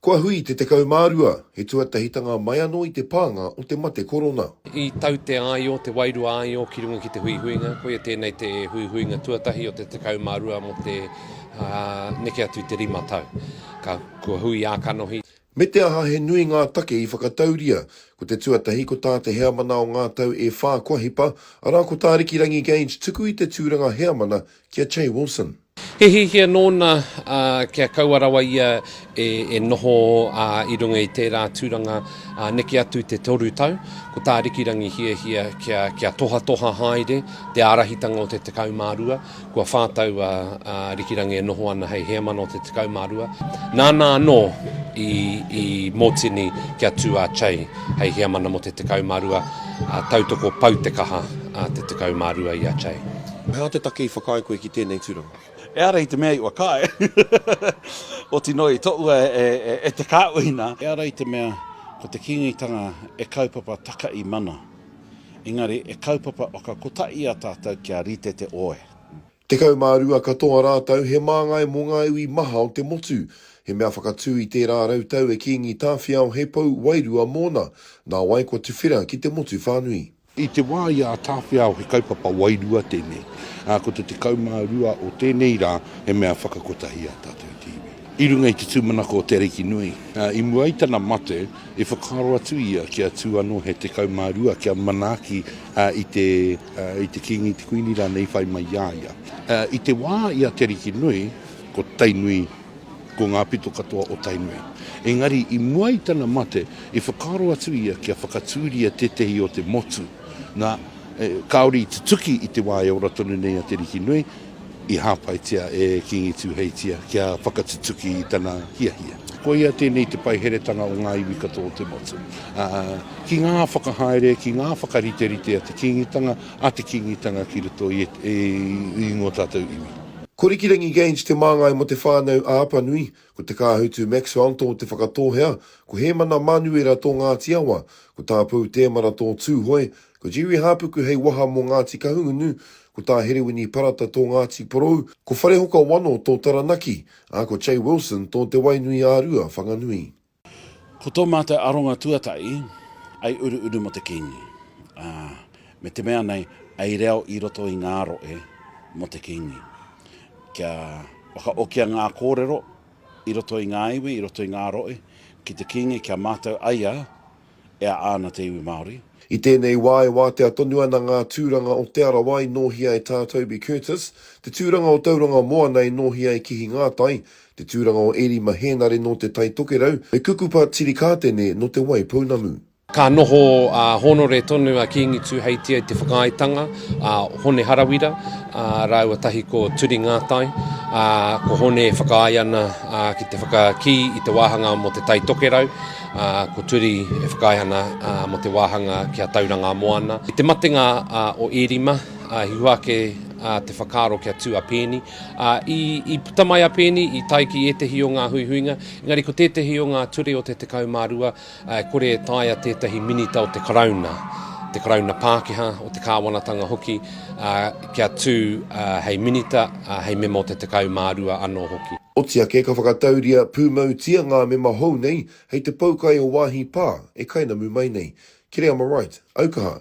Kua hui te 12, he tuatahitanga mai anō i te pānga o te mate korona. I tau te āio, te wairua āio ki runga ki te huihuinga, koia tēnei te huihuinga tuatahi o te 12 mō te neke atu i te rima tau. Ka, kua hui ā-kanohi. Me te aha he nui ngā take i whakatauria, ko te tuatahi ko tā te heamana o ngā tau e whā kua hipa, arā ko tā Rikirangi Gage tuku i te tūranga heamana ki a Che Wilson. He hiahia nōna kia kaua rawa ia e noho i runga i tērā tūranga neke atu te toru tau. Ko tā Rikirangi hiahia kia tohatoha haere te ārahitanga o te 12, kua whā tau a Rikirangi e noho ana hei heamana o te 12. Nāna anō i mōtini kia tū a Chey hei heamana mō te 12, tautoko pau te kaha te 12 i a Chey. He aha te take i whakaae koe ki tēnei tūranga? Ehara i te mea i whakaae. Oti noa i toua e te kāuhina. Ehara i te mea ko te Kīngitanga e kaupapa taka i mana. Engari e kaupapa whakakotaia tātou kia rite te oe. Tekau mā rua katoa rātou he māngai mō ngā iwi maha o te motu. He mea whakatū i tērā rau tau e Kīngi Tāwhiao hei pou wairua mōna. Nāwai kua tuwhera ki te motu whānui. I te wā i a Tāwhiao he kaupapa wairua tēnei, ā, ko te 12 o tēnei rā he mea whakakotahi i a tātou te iwi. I runga i te tūmanako o Te Arikinui, ā, i mua i tana mate, i whakaaro atu ia kia tū anō he 12 kia manaaki i te, i te Kīngi, te Kuini rānei i whai mai i a ia. I te wā i a Te Arikinui, ko Tainui Ko ngā pito katoa o Tainui. Engari, i mua i tana mate, i whakaaro atu ia kia whakatūria tētehi o te motu, nā, kāore i tutuki i te wā e ora tonu nei a Te Rikinui, i hāpaitia e Kīngi Tūheitia kia whakatutuki i tana hiahia. Koia tēnei te paiheretanga o ngā iwi katoa o te motu. Ā, ki ngā whakahaere, ki ngā whakariterite a te Kīngitanga, a te Kīngitanga ki roto i ngō tātou iwi. Ko Rikirangi Gage te māngai mō Te Whānau a Apanui, ko Te Kāhutu Maxwell tō Te Whakatōhea, ko Hēmana Manuera tō Ngāti Awa, ko Tā Pou Tēmara tō Tūhoe, ko Jerry Hāpuku hei waha mō Ngāti Kahungunu, ko Tā Herewini Parata tō Ngāti Porou, ko Wharehoka Wano tō Taranaki, ā, ko Che Wilson tō Te Wainui-ā-Rua, Whanganui. Ko tō mātou aronga tuatahi, ai uruuru mō te Kīngi, ā, me te mea nei, ai reo i roto i ngā rohe mō te Kīngi. Kia whakaokia ngā kōrero i roto i ngā iwi, i roto i ngā rohe ki te Kīngi, kia mātau ai a. e aa ana te iwi Māori. I tēnei wā e wātea tonu ana ngā tūranga o Te Arawa i nōhia e Tā Toby Curtis, te tūranga o Tauranga Moana i nōhia e Kihi Ngātai, te tūranga o Erima Hēnare nō Te Tai Tokerau, me Kukupa Tirikātene nō Te Waipounamu. Ka noho ā hōnore tonu a Kīngi Tūheitia i te whakaaetanga a Hone Harawira rāua tahi ko Turi Ngātai, ā, ko Hone e whakaae ana ki te whakakī i te wāhanga mō Te Tai Tokerau. Ko Turi e whakaae ana mō te wāhanga ki a Tauranga a Moana. I te matenga o Ērima, i hua ake te whakaaro kia tū a Peeni. I puta mai a Peeni, i tae ki ētehi o ngā huihuinga, engari ko tētehi o ngā ture o te 12 e kore e taea tētahi minita o te Karauna, te Karauna Pākehā, o te kāwanatanga hoki, kia tū hei Minita, hei Mema o te 12 anō hoki. Oti ake ka whakatauria pūmautia ngā mema hou nei hei te poukai o wāhi pā e kainamu mai nei. Kiri am I right? Aukaha.